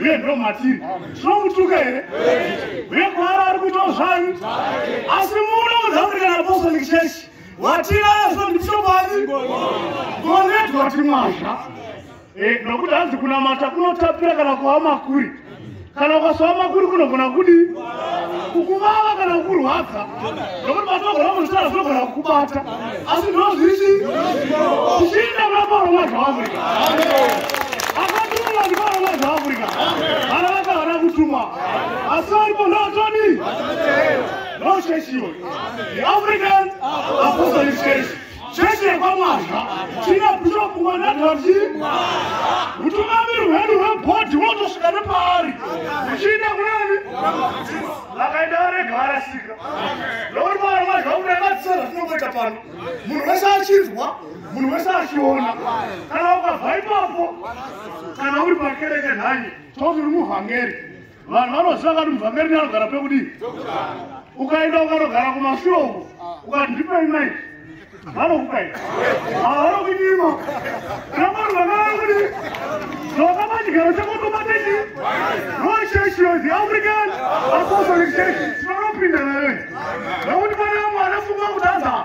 uye ndo matiri tinomutuka here uye kwaari ari kuitawo zvanyu asi munoudza kuti kana apostolic church watinazo ndipshokwadi gonedwa timwazha eh, nokuti hanzi kunamata kunotapira kana kuva makuri kana ukasowa makuri kunogona kudi kukuvava kana kukurwadza nokuti patinogona kuzvitara zvinogona kukubata asi ndozvisi zvichiita kuna pauro mazva afrika akatumwa ndipauro mazva afrika vana vaka vana kutumwa asi varipo ndotoni ndocheshiyo the african apostolic church chechi yekwamwazha china bishop wanadhati utungamiri hwedu hwebhodhi wotosvika nepaari uchiita kunani vakaenda varega varasika nokuti paari mazha kudai vatisara zvatinongoita pano munhu wese achinzwa munhu wese achiona kana ukabva ipapo kana uri pakereke nhanye toti uri muvhangeri vanhu vanoziva kati muvhamberi neanogara pekudi ukaenda ukanogara kumashure uko ukati ndipei mai vanokupai avanokunyima namari vanaakudi nokama chigaro chakotomatechi nochechi yo the african apostolic church tinonopinda nayo nekuti vana vamwe vanafunga kutadza